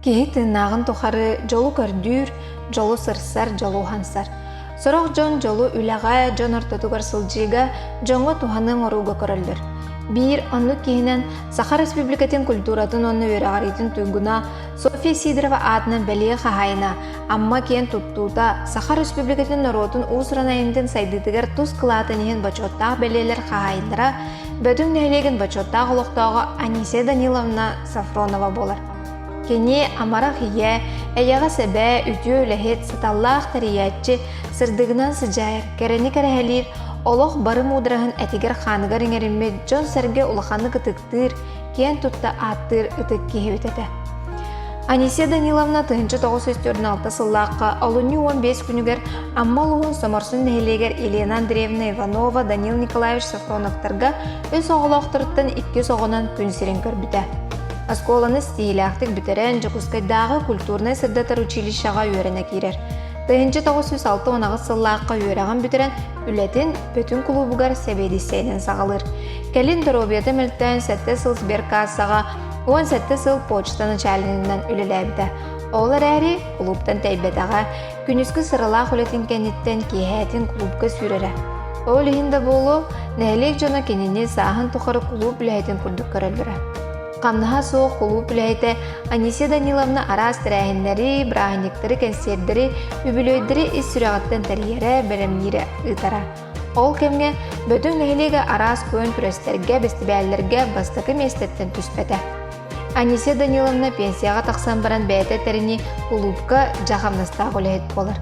Киһи тыыннааҕын тухары дьолу көрдүүр, дьолу сырсар, дьолу уһансар. Сорох дьон дьолу үлэҕэ, дьон ортотугар сылдьыыга, дьоҥҥо туһаныан орууга көрөллөр. Биир оннук киһинэн Саха Республикатын культуратын уонна үөрэҕириитин туйгуна Софья Сидорова аатынан бэлиэ хаһаайына, Амма киэн туттуута Саха Республикатын норуотун уус-уран айымньытын сайдыытыгар тус кылаатын иһин бочуоттаах бэлиэлэр хаһаайындара, Бөтүҥ нэһилиэгин бочуоттаах олохтооҕо Анисия Даниловна Сафронова буолар. Кини амарах ийэ, эйэҕэс эбээ, үтүө үлэһит, саталлаах тэрийээччи, сырдыгынан сыдьаайар, кэрэни кэрэһэлиир, олох бары муудараһын этигэр-хааныгар иҥэриммит дьон-сэргэ улаханнык ытыктыыр, киэн тутта ааттыыр ытык киһибит этэ. Анисия Даниловна тыһыынча тоҕус сүүс төрдүн алта сыллаахха олунньу уон биэс күнүгэр Амма улууһун Соморсун нэһилиэгэр Елена Андреевна Иванова, Данил Николаевич Софроновтарга үс оҕолоохторуттан иккис оҕонон күн сирин көрбүтэ. Оскуоланы ситиһиилээхтик бүтэрэн, Дьокуускайдааҕы культурнай-сырдатар училищеҕа үөрэнэ киирэр. Тыһыынча тоҕус жүз алта унаҕыс сыллаахха үөрэҕин бүтэрэн, үлэтин Бүтүн кулуубугар сэбиэдиссэйинэн саҕалыыр. Кэлин доруобуйата мөлтөөн сэттэ сыл сберкассаҕа уон сэттэ сыл почта начальнигынан үлэлээбитэ. Ол эрээри кулууптан тэйбэтэҕэ. Күнүскү сыралаах үлэтин кэнниттэн киэһээтин кулуупка сүүрэрэ. Ол иһин да буолуо, нэһилиэк дьоно кинини сааһын тухары кулууп үлэһитин курдук көрөллөрө. Хамнаһа суох кулууп үлэһитэ Анисия Даниловна араас тэрээһиннэри, бырааһынньыктары, кэнсиэрдэри, үбүлүөйдэри ис сүрэҕиттэн тэрийэрэ, бэлэмниирэ ыытара. Ол кэмҥэ бүтүн нэһилиэгэ араас куөн күрэстэргэ, бэстибээллэргэ бастакы миэстэттэн түспэтэ. Анисия Даниловна пенсияҕа тахсан баран бэйэтэ этэринии улуупка дьаахымнастаах үлэһит буолар.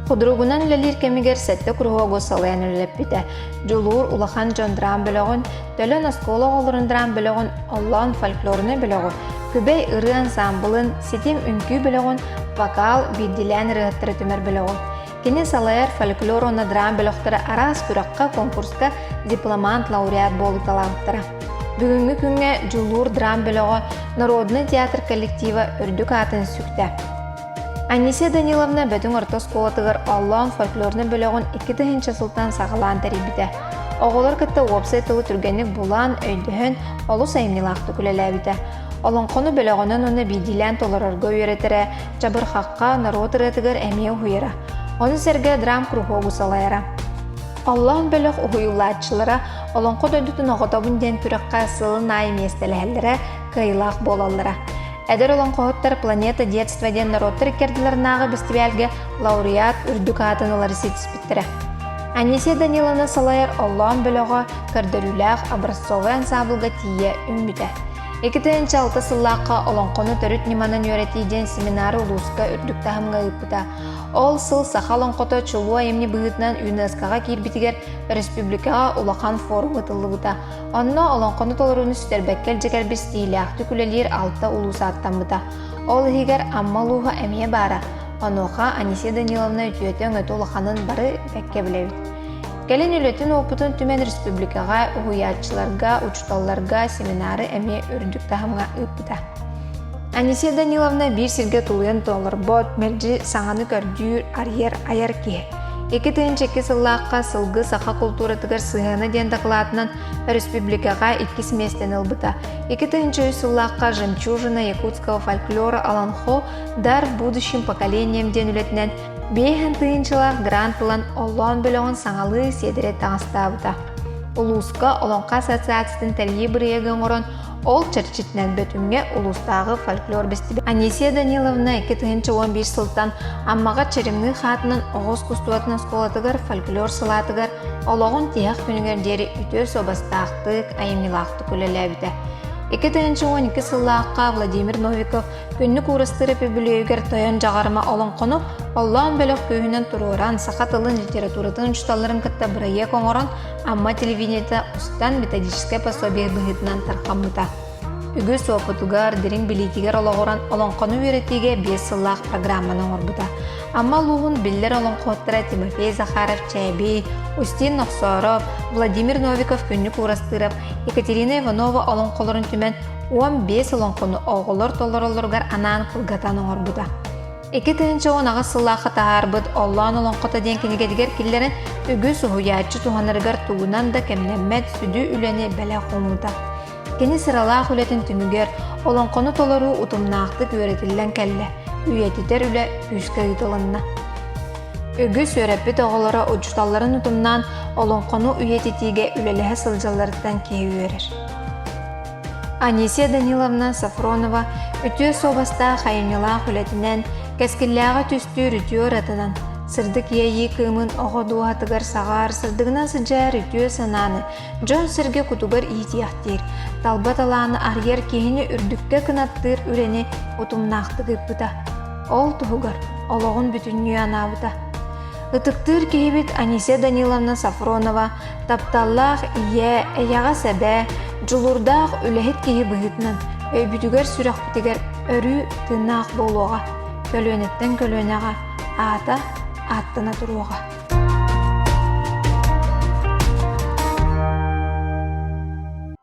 Худругунан үлэлиир кэмигэр сэттэ куруһуогу салайан үлэлэппитэ. Дьулуур улахан дьон драм бөлөҕүн, Төлөн оскуола оҕолорун драм бөлөҕүн, Оллоон фольклорнай бөлөҕүн, Күбэй ырыа ансаамбылын, Ситим үҥкүү бөлөҕүн, вокал, биирдиилээн ырыаһыттара түмэр бөлөҕүн. Кини салайар фольклор уонна драм бөлөхтөрө араас күрэххэ, конкурска дипломант, лауреат буолуу таланттара. Бүгүҥҥү күҥҥэ Дьулуур драм бөлөҕө народнай театр коллектива үрдүк аатын сүктэ. Анисия Даниловна Бөтүҥ орто оскуолатыгар Оллоон фольклорнай бөлөҕүн икки тыһыынча сылтан саҕалаан тэрийбитэ. Оҕолор кытта уопсай тылы түргэнник булан, өйдөһөн, олус айымньылаахтык үлэлээбитэ. Олоҥхону бөлөҕүнэн уонна биирдиилээн толорорго үөрэтэрэ, чабырхахха, норуот ырыатыгар эмиэ уһуйара. Ону сэргэ драм-куруһуогу салайара. Оллоон бөлөх уһуйуулааччылара Олоҥхо дойдутун оҕотобун диэн күрэххэ сылын аайы миэстэлэһэллэрэ кыайыылаах буолаллара. Эдэр олоҥхоһуттар «Планета детства» диэн норуоттар иккэрдилэринээҕи бэстибээлгэ лауреат үрдүк аатын ылары ситиспит. Анисия Даниловна салайар Оллоон бөлөҕө көрдөрүүлээх образцовай ансаабылга тиийэ үүммүтэ. Икитинчи алта сыллаахха олоҥхону төрүт ньыманан үөрэтии диэн семинар улууска үрдүк таһымҥа ыыппыта. Ол сыл саха олоҥхото чулуу айымньы быһыытынан ЮНЕСКОҕа киирбитигэр республикаҕа улахан форум ыытыллыбыта. Онно олоҥхону толорууну сүтэрбэккэ илдьэ кэлбит стилиахтык үлэлиир алта улуус ааттаммыта. Ол иһигэр Амма улууһа эмиэ баара. Онуоха Анисия Даниловна үтүөтэ өҥөтө улаханын бары кэккэ билэбит. Кэлин үлэтин опытын түмэн республикаҕа уһуйааччыларга, учууталларга семинары эмиэ үрдүк таһымҥа ыыппыта. Анисия Даниловна биир сиргэ тулуйан толорбот, мэлдьи саҥаны көрдүүр, арыйар, айар киһи. Икки тыһыынча икки сыллаахха сылгы саха култууратыгар сыһыана диэн дакылаатынан республикаҕа иккис миэстэни ылбыта. Икки тыһыынча үс сыллаахха жемчужина якутского фольклора Аланхо Дар будущим поколением диэн үлэтинэн биэһэн тыһыынчалаах грант ылан оллоон бөлөҕүн саҥалыы сиэдэрэ таҥастаабыта. Улууска Олоҥхо ассоциациятын тэрийии бырайыагы оҥорон ол чэрчитинэн Бөтүҥҥэ улуустааҕы фольклор бэстибээл Анисия Даниловна икки тыһыынча уон биир сылтан Аммаҕа Чэримныы хаатынан оҕус кустуотун оскуолатыгар фольклор салаатыгар олоҕун тиһэх күнүгэр диэри үтүө суобастаахтык, айымньылаахтык үлэлээбитэ. 2012 сыллаахха Владимир Новиков Күннүк Уурастыы Репөбүлүөйүгэр тойон Дьаҕарыма олоҥхону оллоон бөлөх күүһүнэн туруоран, саха тылын, литературатын учууталларын кытта бырайыак оҥорон, Амма телевидениетэ устан методическай пособие быһыытынан тархаммыта. Үгүс опытугар, дириҥ билиитигэр олоҕуран олоҥхону үөрэтиигэ биэс сыллаах программаны оҥорбута. Амма улууһун биллэр олоҥхуоттара Тимофей Захаров-Чээбий, Устин Нохсоров, Владимир Новиков-Күннүк Уурастырап, Екатерина Иванова олоҥхолорун түмэн Уон биэс олоҥхону оҕолор толороллоругар анаан кылгатан оҥорбута. Икки тыһыынча уон аҕыс сыллаахха таһаарбыт «Оллоон олоҥхото» диэн кинигэтигэр киллэрэн үгүс уһуйааччы туһанарыгар тугунан да кэмнэммэт сүдү үлэни бэлэх уумута. Кини сыралаах үлэтин түмүгэр олоҥхону толоруу утумнаахтык үөрэтиллэн кэллэ, үйэтитэр үлэ күүскэ ыытылынна. Үгүс үөрэппит оҕолоро учууталларын утумнаан олоҥхону үйэтитиигэ үлэлэһэ сылдьалларыттан киһи үөрэр. Анисия Даниловна Сафронова үтүө суобастаах айымньылаах үлэтинэн, кэскиллээҕи түстүүр үтүө ыратынан, сырдык иэйии кыымын оҕо дууһатыгар саҕаар сырдыгынан сыдьаар үтүө санааны дьон-сэргэ кутугар иитиэхтиир, талба талааны арыйар киһини үрдүккэ кынаттыыр үлэни утумнаахтык ыыппыта. Ол туһугар олоҕун бүтүннүү анаабыта. Ытыктыыр киһибит Анисия Даниловна Сафронова Тапталлаах ийэ, эйэҕэс эбээ, дьулуурдаах үлэһит киһи быһыытынан өйбүтүгэр-сүрэхпитигэр өрүү тыыннаах буолуоҕа, көлүөнэттэн көлүөнэҕэ аата ааттана туруоҕа.